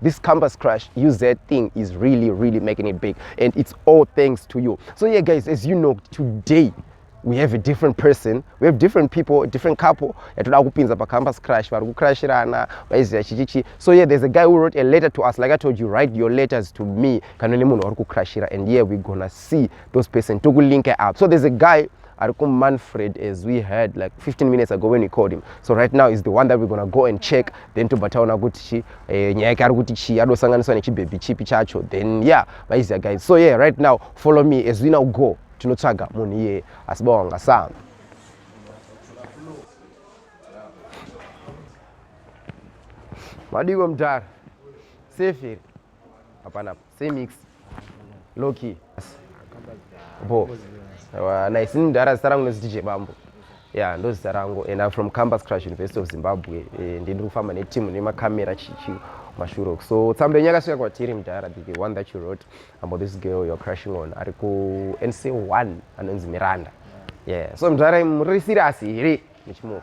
this campus crush uz thing is really really making it big and it's all thanks to you so yeah guys as you know today we have a different person we have different people different couple yatoda kupinza pacampus crush vari kucrashirana vaiziva chichichi so yeah there's a guy who wrote a letter to us like i told you write your letters to me kana nemunhu wari kucrashira and yeah we're gonna see those person tokulinka up so there's a guy ari kumanfred as we heard like 15 minutes ago when we called him so right now is the one that we're gonna go and check then tobva taona kuti chi eh, nyaya yake ari kuti chii adosanganiswa nechibhebhi chipi chacho then yeah maizia guys so yeah right now follow me as we now go tinotsvaga munhu iyeye asi bawanga saa madiko mdhara seferi hapana Same mix. Low key. Bo. Ewa, nice. Ini mdara zita rangu ndoziti DJ Bambo. Yeah, ndo zita rangu and I'm from Campus Crash University of Zimbabwe. Eh, ndiri kufamba ne team ne makamera chichi mashuro. So tsamba yenyu yakasvika kwatiri mdara the one that you wrote about this girl you're crushing on ari ku NC1 anonzi Miranda. Yeah. So mdara muri serious here? Muchimuka.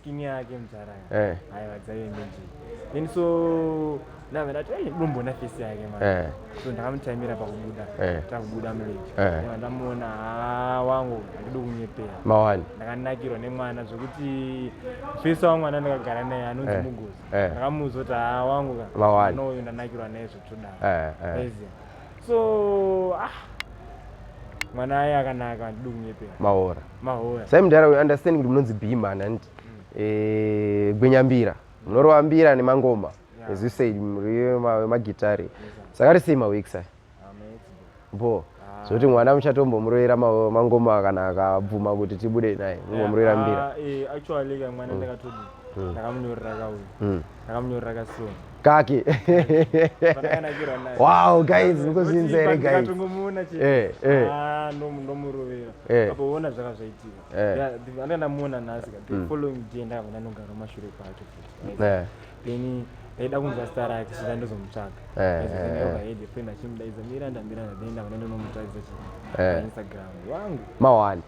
skin yake mzara eh. aiwa dzaive mbeji then so nave ndati ei domboona face yake ma eh. so ndakamuchaimira pakubuda eh. takubuda mlake eh. ndamuona haa wangu andidi kunyepera mawani ndakanakirwa nemwana zvekuti face wangu ana ndakagara naye anonzi eh. mugozi eh. ndakamuudza kuti haa wangu ka mawani uyu ndanakirwa naye zvekutodaro eh. eh. so ah mwana aye akanaka handidi kunyepera mahora mahora sai mudhara we understand kuti munonzi bhima nanti mm. eh, gwenyambira munorova mbira nemangoma yeah. as you said magitare saka risei mawek sai bo ah. zvokuti mwana muchatombomuroera mangoma akanaka abvuma kuti tibude naye mumbomuroera mbira ah, eh, actually ka mwana mm. ndakatodi mm. ndakamunyorera kauyu ndakamunyorera kasoni kaki wow guys mukuzinza here guys eh, eh. Ah, ndomurovera eh. apoona zvaka zvaitika anga ndamuona nhasi ka the mm. following day ndakabva ndanogara mashure kwake then ndaida kunzwa star rake saka ndozomutsvaga achimudaidza miranda miranda then ndakabva ndandonomutarisa chii instagram wangu mawani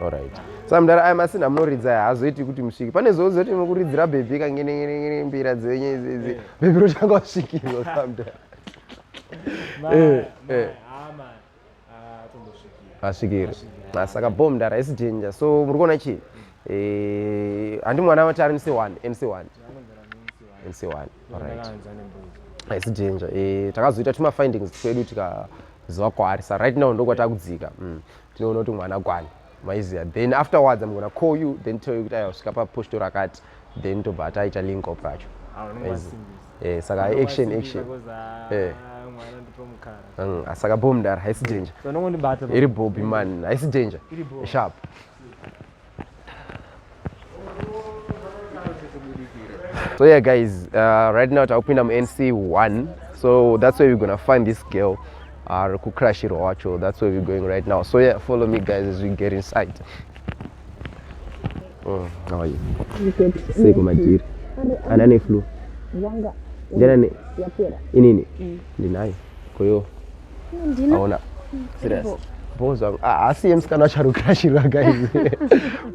Alright. Saka mdara aya masina munoridza haazoiti kuti musvike. Pane zvo zoti mukuridzira baby kangene ngene ngene mbira dzenye idzi idzi. Eh. Baby rotanga kusvikirwa samdara. Eh. Eh. Asvikiri. Saka bom mdara isi danger. So muri kuona chi? Eh, handi mwana wati ari NC1, NC1. NC1. Alright. Isi danger. Eh, takazoita tuma findings twedu tika zova kwaari. Sa right now ndokwatakudzika. Mm. Tinoona kuti mwana akwani maiziva then afterwards I'm gonna call you then tell you kuti ayasvika paposito rakati then tobva ataita link up racho eh, saka action action eh. mm, ah, saka bho mdara haisi danger iri bhobi man haisi danger sharp so yeah guys uh, right now takupinda munc1 so that's where we're gonna find this girl ari uh, kucrashirwa wacho that's where we're going right now so yeah follow me guys as we get inside oh, how are you sei kumadhiri ana neflu ndinani inini mm. ndinayo koyo aona serious boss wangu ah, haasiye musikana wacharukira chirwa guys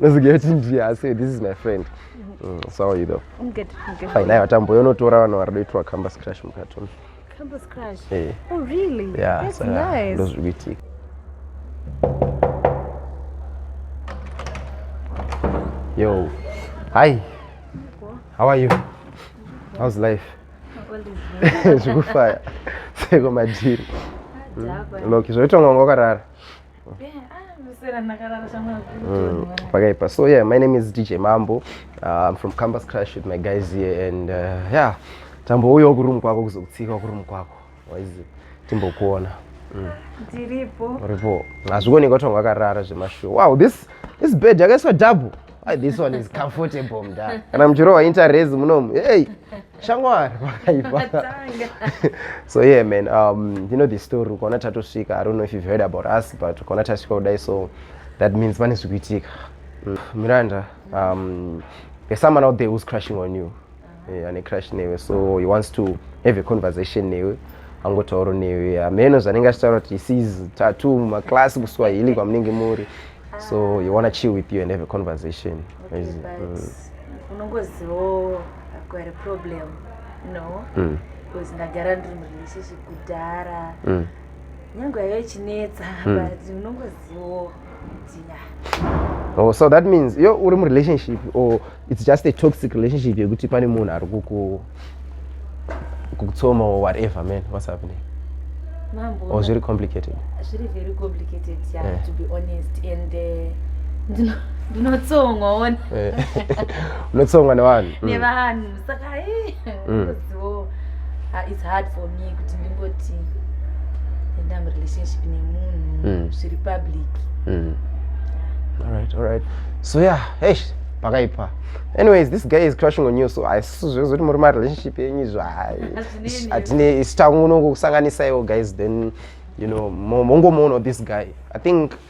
unozigira kuti ndiye haasiye this is my friend mm, so how you though I'm good. I'm good. fine aiwa tamboyo unotora vanhu vari doitwa campus crash mukatoni Campus crash. Eh. Oh really? yeah That's saka nice. ndozviri kuitika yo hi how are you how's life zvikufaya seko madhiri hmm. loki zvoitwa mwanga wakarara Mm, pakaipa so yeah my name is dj mambo uh, i'm from campus crash with my guys here and uh, yeah tambouyawo kuroom kwako kuzokutsika kuroom kwako waizi timbokuona mm. ndiripo uripo hazvikuoneka kuti wanga akarara zvemashow wow this this bed yakaiswa double ah, this one is comfortable mda kana muchirohwa interest munomu hey shamwari pakaipa so yeah man um, you know the story ukaona tatosvika i don't know if you've heard about us but ukaona tasvika kudai so that means pane zvikuitika mm. miranda um, there's someone out there who's crushing on you eh, ane crush newe so he wants to have a conversation newe angotauro newe hameno zvanenge achitaura kuti sees tatu maclass kuswahili kwamunenge muri so he wanna chill with you and have a conversation okay, Is, mm. unongozivawo kwari problem no mm. because mm. ndagara ndiri murelationship kudhara mm. nyange yaive ichinetsa mm. but unongozivawo Oh, so that means yo uri murelationship or it's just a toxic relationship yekuti pane munhu ari kuku kukutsoma or whatever man what's happening mambo or zviri complicated zviri very complicated yeah, yeah. to be honest and uh, ndinotsongwa one eh. unotsongwa nevanhu mm. nevanhu saka eh, mm. unozivo ah, its hard for me kuti ndingoti enda murelationship nemunhu mm. zviri public mm. alright alright so yeah hey pakaipa anyways this guy is crushing on you so haisiso zvezoti muri marelationship yenyu izvo hatine isu tangunongokusanganisaiwo guys then you know mongomoona this guy i think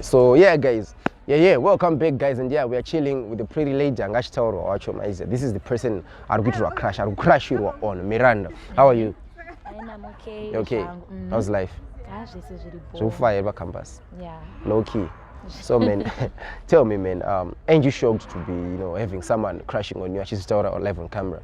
so yeah guys yeah yeah welcome back guys and yeah we are chilling with the pretty lady anga achitaurwa wacho maize this is the person ari kuitirwa crash ari kucrashirwa on miranda how are you okay, okay. Mm. how's life ah, zvekufaya here pacampus no key so man tell me man um, ain't you shocked to be you know having someone crashing on you achizvitaura on live on camera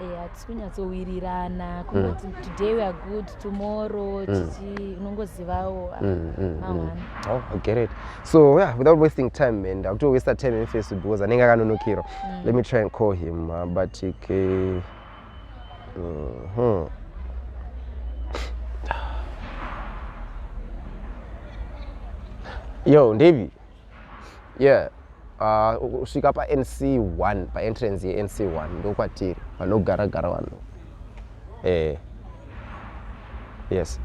Eh, hatisi kunyatsowirirana kunoti mm. today weare good tomorrow mm. chichi unongozivawo ah, mm, oh, gerit so yeah, without wasting time man ndakutowasta time emfesu because anenge akanonokirwa let me try and call him uh, but okay. uh-huh. yo ndevi yeah ah, kusvika uh, panc 1 paentrance yenc 1 ndokwatiri vanogara gara vanhu eh yes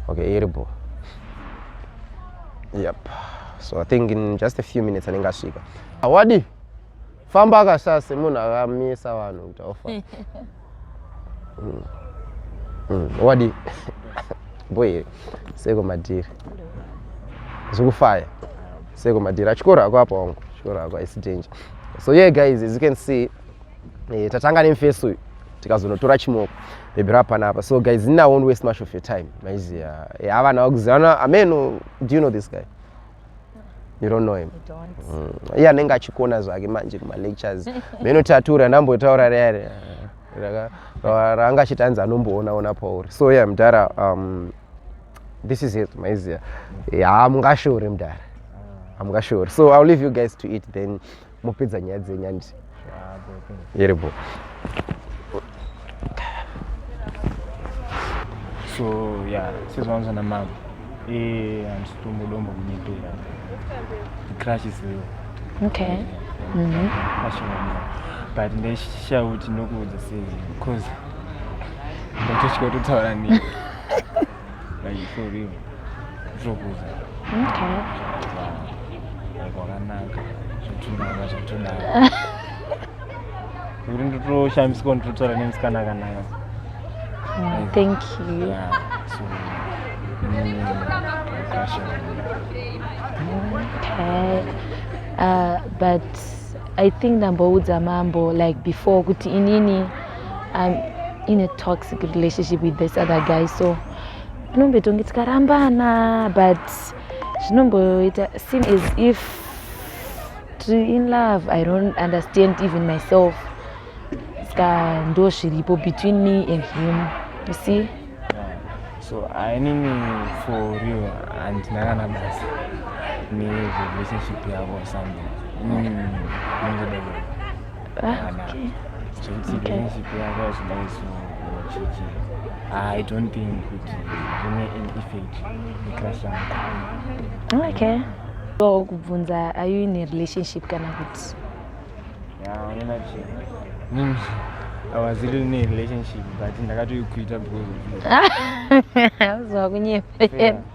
okay iripo yep so i think in just a few minutes anenge asvika awadi ah, famba akashaya semunhu akamisa vanhu kuti ofa mm. mm. wadi boyere seko madhiri zvikufaya seko madhiri achikoro ako apa wangu chikoro ako isi danger so ye yeah, guys as you can see eh, tatanga nemfesi uyu tikazonotora chimoko bhebhi rapana apa so guys nina won't waste much of your time maiziva eh, havana vakuziva ameno do you know this guy you don't know him mm. iye anenge achikona zvake manje kumalectures meno tatura ndambotaura rere raanga achiti anzi anomboonaona pauri so ye yeah, mdara um, this is it maizia hamungashore yeah, mdara hamungashore so ill leave you guys to eat then mopedza nyaya dzenyu andi yeripo so ya sezvaunza namama e handisitombodombo kunyepera crash isiyo okay mhm. but ndaishaya kuti ndokuudza sei because ndotosvika kutotaura nei Like for real. Zvokuza. Okay. Kwakanaka. Zvotunaka zvotunaka. Kuti ndotoshamiswa ndototaura nemusikana akanaka. Mm, thank you. Yeah, so, mm, okay. Uh, but I think ndamboudza mambo like before kuti inini I'm in a toxic relationship with this other guy so tinomboitonge tikarambana but zvinomboita seem as if tiri in love i don't understand even myself ska ndo zviripo between me and him you see so ainini for real handina kana basa nerelationship yavo something mm. Ah, okay. I don't think it remain in effect eclass yangu okay so kubvunza are you in a relationship kana kuti mm, I was really in a relationship but ndakatoikuita because of you. Zvakunyepera.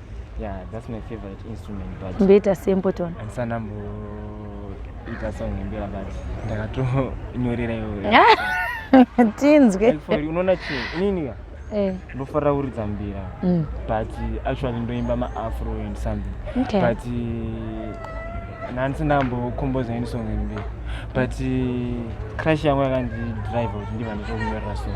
Yeah, that's my favorite instrument but ndoita sempotona andisana mboita song yembira but ndakatonyorera iyoyo tinzwe unoona chii inini eh. ndofarira kuridza mbira mm. but actually ndoimba maafro and something okay. but nhandisina kambokomboza ini song yembira but crash yangu yakandidrive kuti ndiva ndichokunyorera song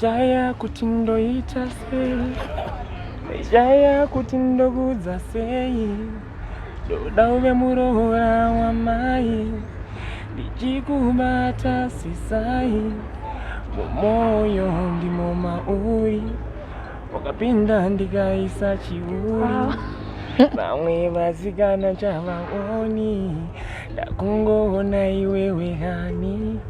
Shaya kuti ndoita sei Shaya kuti ndokudza sei Ndoda uve muroora wamai Ndichikubata sisai Mumoyo ndimo mauri Wakapinda ndikaisa chiuri Vamwe vasikana chavaoni Ndakungoona iwewe hani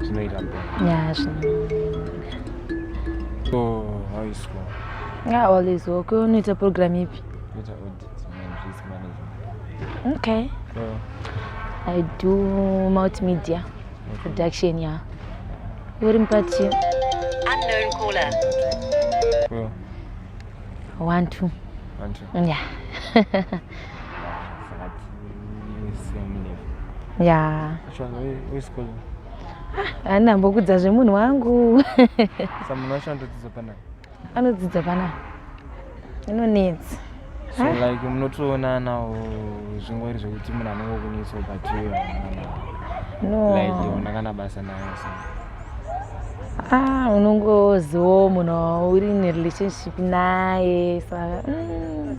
zvinoita mberi always work unoita program ipi okay i do multimedia production ya uri mupachi one two yeah ya haina mbokudza zvemunhu wangu samunhu wacho anotodzidza panai anodzidza panai inonetsa so like munotoonanawo zvingori zvekuti munhu anenge kunetsa ubatiwe noona kana basa nayo so ah unongoziwo munhu uri nerelationship naye saka mm.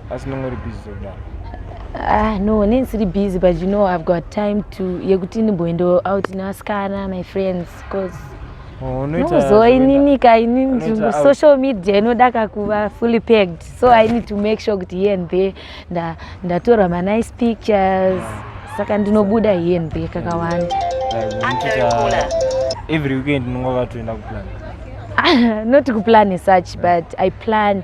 asi nonge uri busy zvekudaro Ah, no, neni siri busy but you know I've got time to yekuti ndimboendawo out nevasikana my friends cause Oh, unoita nozoa zvekuenda- inini ka inini unoita nzvimbo out. social media inoda kakuva fully packed so i need to make sure kuti here and there nda- ndatora manice pictures saka ndinobuda here and there kakawanda like, unotoita every weekend unonga vakatoenda kuplan Ah, not kuplan as such but i plan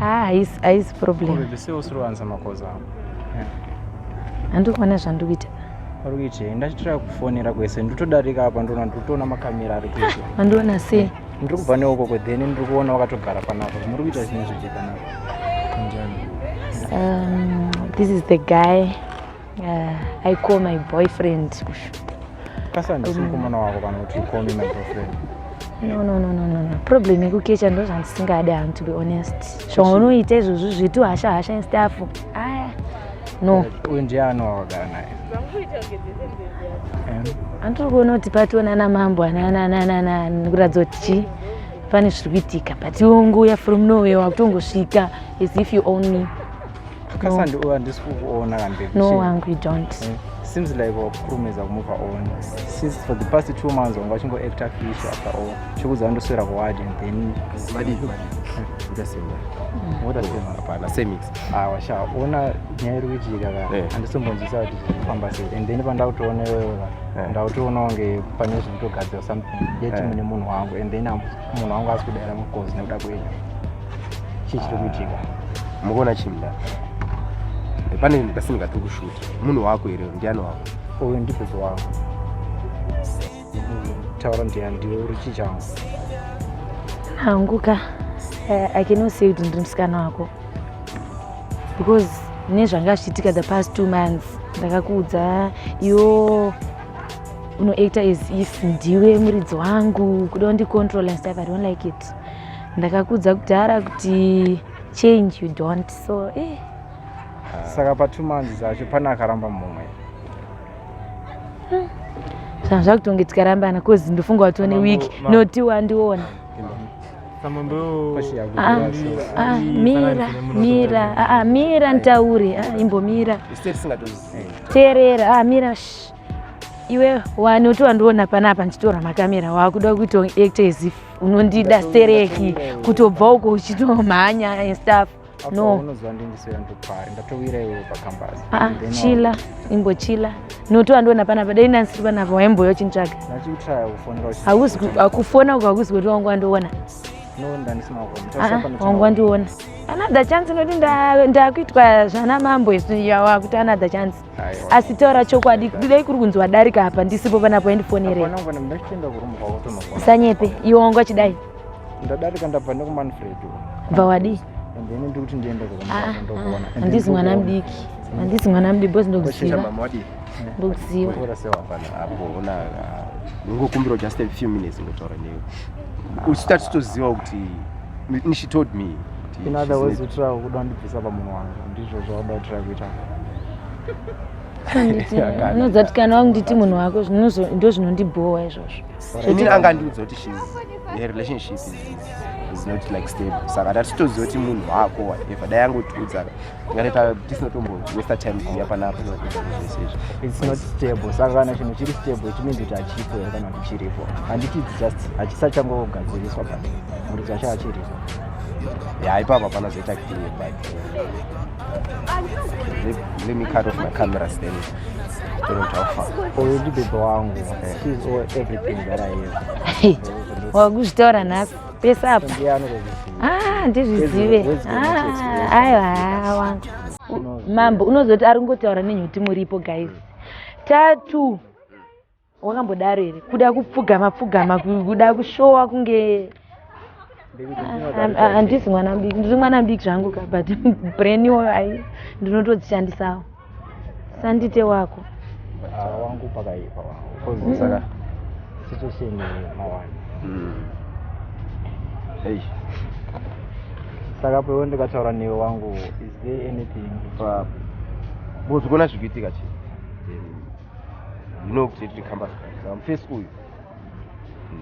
Ah, haisi haisi problem. Baby sei usiri kuwanza makoza ako? Handikuona zvandiri kuita. Uri kuitei? Ndachitira kufonera kwese ndotodarika apa ndoona ndotoona makamera ari kuita. Mandiona sei? Ndiri kubva neukoko then ndiri kuona wakatogara panapa. Muri kuita zvinhu zvichiti panapa. Um, this is the guy Uh, I call my boyfriend kushuta. Kasa ndisimukomana wako kana kuti you call me my boyfriend. No, no, no, no, no, no. Problem yekukecha ndo zvandisingadi hangu to be honest. Zvaunoita izvozvo zvitu hasha hasha and stuff. Aya. No. Uyu ndiye anowagara naye. Andiri kuona kuti pationa na mambo ana ana ana ana ana ndikuratidza kuti chii pane zviri kuitika but iwe unguya from nowhere wakutongosvika as if you own me. Kasandi uya ndisi kukuona kambe. No wangu you don't. Eh, seems like wakurumidza kumove on. Since for the past two months wanga uchingo act a fish after all. Chikuza ndoswera ku ward and then what is Just say what. What does it matter? Hapana, same mix. Ah, washa ona nyaya iri kuitika ka. Eh. Andisombonzisa kuti zvifamba sei. And then pandakutoona wewe ka. Eh. Ndakutoona kunge pane zviri kutogadzira something. Yet mune munhu wangu and then I'm munhu wangu asi kudaira mukozi nekuda kwenyu chii chiri kuitika ah, mukuona chimda pane ndasindika tiri kushuta munhu wako here ndiani wako uyu ndibhuzi wako taura ndiani ndiwe uri chii changu hangu ka eh, i cannot say kuti ndiri musikana wako because nezvanga zvichiitika the past two months ndakakuudza yoo unoita as if ndiwe muridzi wangu kuda undicontrol and stuff i don't like it ndakakudza kudhara kuti change you don't so eh. saka patwo months acho pane akaramba mumwe hmm. zvanhu zvakutonge tikarambana cause ndofunga watone week noti wandiona ah, ah, mira mira ah, mira nditaure imbomira teerera mira iwe wani uti wandiona panapa ndichitora makamera wakuda kuita act as if unondida stereki kutobva uko uchitomhanya and stuff no ah, chila imbochila noto wandiona panapa dai ndansiri panapa waimboya uchintsvaga akufona uko hakuzi kuti wangu wandiona ah, wangu wandiona another chance inoti ndakuitwa zvana mambo isu yawakuti another chance asi taura chokwadi dai kuri kunzi wadarika apa ndisipo panapo endifonerei sanyepe iwe wanga chidai ndadarika ndabva nekumanfred bva wadii handisi mwana mudiki handisi mwana mudiki bcause ndokuziva ndokuziva ngokumbirawo just a few minutes ngotaura newe usati toziva kuti she told me in other words utrava kuda kundibvisa pamunhu wangu ndizvo zvauda utrava kuita unodzati kana wakunditi munhu wako ndo zvinondibhowa izvozvo ini angandiudza kuti shes her relationship is not like stable saka ndatitoziva kuti munhu wako whatever dai angotiudza ngareta tisina tombo westa time kuuya panapa its not stable saka kana chinhu chiri stable it means kuti hachipo here kana kuti chiripo handiti its just hachisachangogadziriswa but muri chacho hachiripo ya ipapo hapana zoita clear but let me cut off my camera then ndibebe wangu wakuzvitaura nhasi pese apa ah, ndizvizive ah, aiwa mambo unozoti ari kungotaura nenyuti muripo guys tatu wakambodaro here kuda kupfugama pfugama kuda kushowa kunge handisi mwana mudiki ndiri mwana mudiki zvangu ka but brain iwoyo ai ndinotodzishandisawo sandite wako ah, wangu pakaipa wangu kozi mm. saka situation mawani mm. hey saka pewo ndikataura newe wangu is there anything pa bozi kuona zvikuitika chi ndino kuti tiri kamba saka mufesi uyu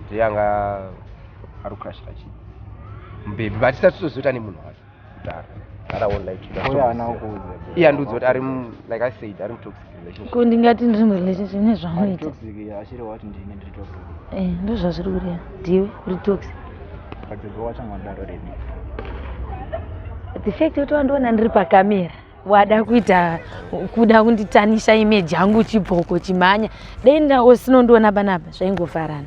ndeyanga ari kurashira chi mbebi vatisati tozoita nemunhu wacho kundingati ndiri murelationship nezvaunoita eh, ndozvazviri kureva ndiwe uri toxic the fact yoti wandiona ndiri pakamera wada kuita kuda kunditanisha imeji yangu chibhoko chimhanya dai ndaosinondiona panapa zvaingofarana